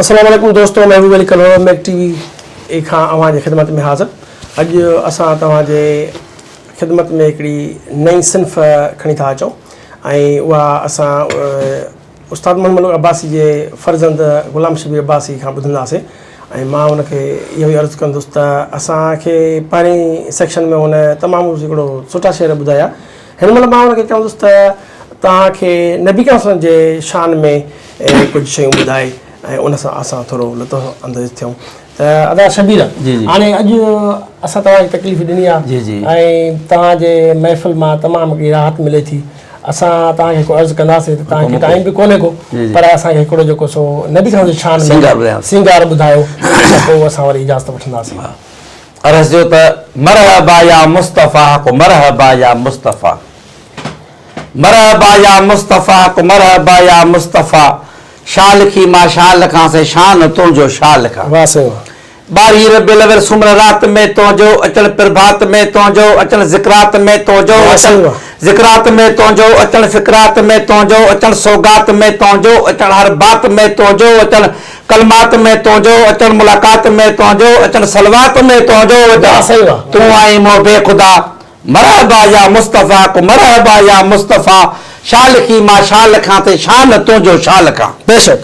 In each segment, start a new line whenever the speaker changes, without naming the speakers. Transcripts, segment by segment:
اسلام عليڪم دوستو محبوب علي ڪلهوڙو ميڪ ٽي وي اي کان اوهان جي خدمت ۾ حاضر اڄ اسان توهان جي خدمت ۾ هڪڙي نئين صنف کڻي ٿا اچون ۽ اها اسان استاد محمد ملڪ عباسي جي فرزند غلام شبير عباسي کان ٻڌنداسين ۽ مان هن کي اهو ئي عرض ڪندس ته اسان کي پهرين سيڪشن ۾ هن تمام هڪڙو سٺا شعر ٻڌايا هن مهل مان هن کي چوندس ته توهان کي نبي کرم صلي الله علیه وسلم جي شان ۾ ڪجهه شيون ٻڌائي ۽ ان سان اسان ٿورو لطف انديز ٿيون. ادا شبير هاڻي اڄ اسان توهان کي تڪليف ڏني آهي ۽ توهان جي محفل مان تمام ڪي راحت ملي ٿي اسان توهان کي هڪڙو عرض ڪنداسين ته توهان کي ٽائيم به ڪونهي ڪو پر اسان کي هڪڙو جيڪو سو نبي صاحب جي شان ۾ سينگار ٻڌايو ته پوء اسان وري اجازت وٺنداسين عرض جو
ته مرحبا يا مصطفيٰ حق مرحبا يا مصطفيٰ مرحبا يا مصطفيٰ حق مرحبا يا مصطفيٰ شاھ لکي مان شاھ لکان سائين شان ھو تنھنجو شاھ لکان. واه سائين
واه. ٻارھين ربيع الاول
سومر رات ۾ تنھنجو اچڻ پرڀات ۾ تنھنجو اچڻ ذڪرات ۾ تنھنجو واه اچڻ سائين واه. ذڪرات ۾ تنھنجو اچڻ فڪرات ۾ تنھنجو اچڻ سوغات ۾ تنھنجو اچڻ ھر بات ۾ تنھنجو اچڻ ڪلمات ۾ تنھنجو اچڻ ملاقات ۾ تنھنجو اچڻ صلوات ۾ تنھنجو واه اچڻ سائين واه. تون آھين محب خدا مرحبا يا مصطفيٰ ڪو مرحبا يا مصطفيٰ شال ڪي مان شال کان تي شان تنهنجو شال کان. بيشڪ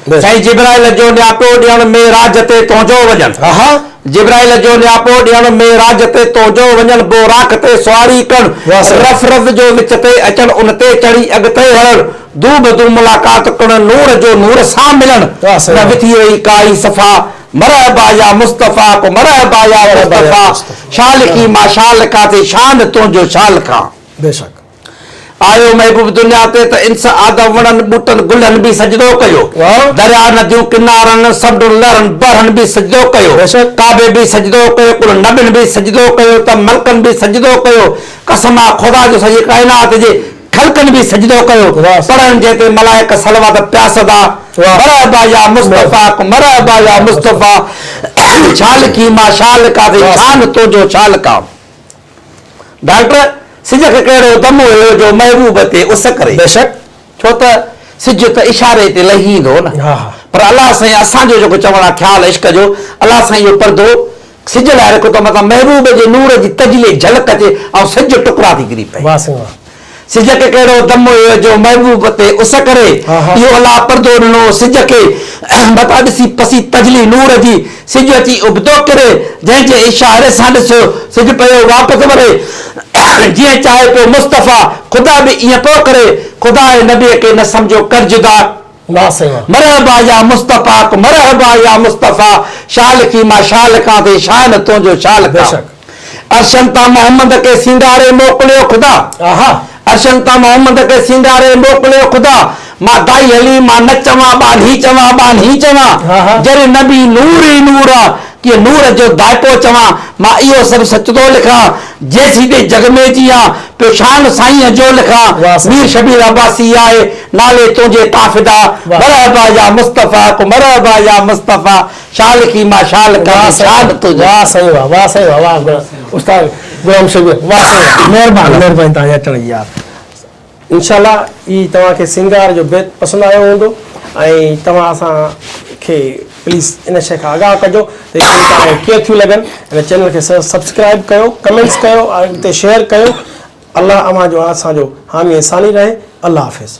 بيشڪ.
سائين
جبرائيل جو نياپو ڏيڻ معراج تي تنهنجو وڃڻ اها. جبرائيل جو نياپو ڏيڻ معراج تي تنهنجو وڃڻ بوراڪ تي سواري ڪرڻ واھ سائين. رف رز جو وچ تي اچڻ ان تي چڙهي اڳتي هلڻ دو بدو ملاقات ڪرڻ نور جو نور سان ملڻ واھ سائين نه واھ. وٿي هئي ڪائي صفا مرحبا يا مصطفيٰ ڪو مرحبا يا مصطفيٰ شال لکي مان شال لکان ٿي شان تنهنجو ڇا لکان
آيو
محبوب دنيا تي ته انس آدم وڻن ٻوٽن گلن به سجدو ڪيو دريا نديون ڪنارن سمنڊن لهرن بحرن به سجدو ڪيو ڪعبي به سجدو ڪيو ڪل نبين به سجدو ڪيو ته ملڪن به سجدو ڪيو قسم آ خدا جو سڄي ڪائنات جي خلقن به سجدو ڪيو، پڙهڻ جنهن تي ملائڪ صلوات پيا سدا، مرحبا يا مصطفيٰ ڪون مرحبا يا مصطفيٰ ڪون شال ڪي ما شال ڪا سي شان تنهنجو شال ڪا. ڊاڪٽر سج کي ڪهڙو دم هيو جو محبوب تي اس ڪري. بيشڪ ڇو
ته
سج ته اشاري تي لهي ايندو نه پر الله سائين اسان جو جيڪو چوڻ آ خيال عشق جو الله سائين اهو پردو سج لاء رکو ته مٿان محبوب جي نور جي تجلي جهلڪ اچي ۽ سج ٽڪرا ٿي ڪري پئي. واه سائين واه. سج کي ڪهڙو دم هيو جو محبوب تي اس ڪري اهو الله پردو ڏنو سج کي مٿان ڏسي پسي تجلي نور جي سج اچي ابتو ڪري جنهن جي اشاري سان ڏسيو سج پيو واپس وري جيئن چاهي پيو مصطفيٰ خدا به ائين پيو ڪري خدا ۽ نبي کي نه سمجهو ڪر جدا. واه سائين. مرحبا يا مستفاق مرحبا يا مصطفيٰ شال کي مان شال ڪان ٿي شاه نه تنهنجو شال ڪان بيشڪ. عرشن تان محمد کي سينگاري موڪليو خدا آها. عرشن تان محمد کي سينگاري موڪليو خدا مان گائي هلي مان نه چوان ٻانهي چوان ٻانهي چوان آها. جر نبي نور ئي نور آ ڪي نور جو دائقو چوان، مان اهو سڀ سچ ٿو لکان، جيسين تائين جڳ ۾ جيان، پيو شان سائينء جو لکان، مير شبير عباسي آهي، نالي تنهنجي تان فدا، مرحبا يا مصطفيٰ ڪو مرحبا يا مصطفيٰ، شال لکي مان شال لکان ڪي شان تنهنجو لکان. واه سائين واه واه سائين
واه واه استاد غلام شبير واه سائين واه مهرباني مهرباني توهان جي اچڻ جي يار. انشاء الله هي توهان کي سينگار جو بيت پسند آيو هوندو ۽ توهان اسان کي پليز ان شئي کان آگاهه ڪجو ته هي شئيون توهان کي ڪيئن ٿيون لڳن هن چينل کي سبسڪرائيب ڪيو ڪمينٽس ڪيو اڳتي شيئر ڪيو الله اوهان جو ۽ اسان جو حامي ۽ ثاني رهي الله حافظ.